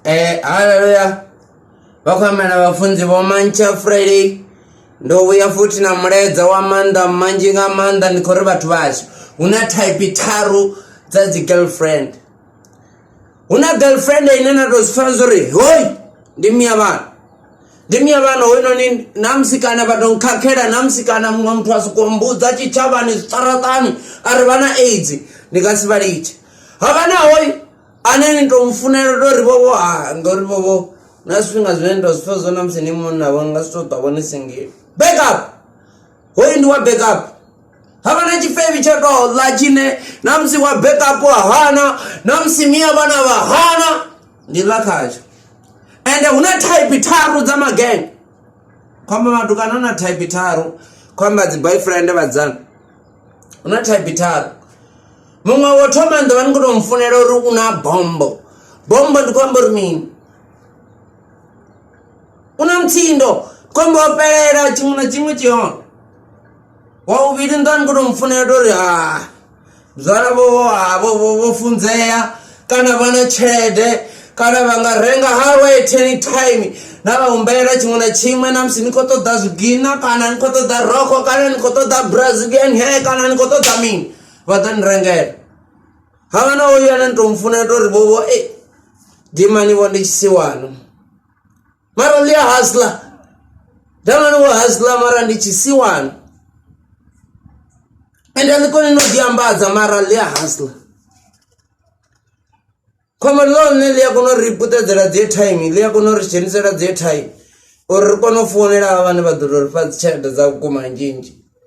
Eh, haleluya vakhwamela vhafunzi vho mantsha friday ndo vhuya futhi na mulaedza wa maanḓa manzhi nga maanḓa ndi khou ri vhathu vhashu hu na type tharu dza dzi girlfriend hu na girlfriend ine na tou zwipfana zwo ri hoi ndi miya vhana ndi miya vhana hoyinoni na musikana vha tou nkhakhela na musikana muṅwe muthu a sokou mbudza tshitshavhani zwiṱaraṱani a ri vha na aids ndi nga si vha litshe haka na hoyu ane ni tou mufunela ndo ri vhovho ha ngori vhovho na zwifhinga zwine ndo zwi pfha zwo na musi ni munna vho nga si tou ṱavho ni singile backup hoyu ndi wa backup havha na tshifevi tsha tou ḽa tshine na musi wa backup wa hana na musi miya vhana vha hana ndi ḽa khatsho ende hu na type tharu dza magenge khomba matukana na type tharu khomba dzi boyfriend vhadzana hu na thaibi tharu muṅwe wo thoma ndo vha ni khou tou mufunela uri u na bombo bombo ndi khou amba uri mini u na mutsindo khou amba o fhelela tshiṅwe na tshiṅwe tshi hone wa vhuvhili ndo vha ni khou tou mufunela uri ha zwalavho vho funzea kana vha na tshelede kana vha nga renga hawe at any time na vha humbela tshiṅwe na tshiṅwe na musi ni khou ṱoḓa zwigina kana ni khou ṱoḓa rokho kana ni khou ṱoḓa brazilian hair kana ni khou ṱoḓa mini vha ḓo ni rengela havha na oyu ane ni tou mufunela tori vhovho e eh, dimani vho ndi tshisiwana mara lia hasla jamani wa hasla mara ndi chisiwani ende liko ninodiambadza mara lia hasla khombo lone ḽi a kona u ri puṱedzela dzi airtime ḽi a kona u ri dzhenisela dzi airtime uri ri kone u founela vhane vha ḓo tou ri fha dzi tshelede dza vhukuma nzhinzhi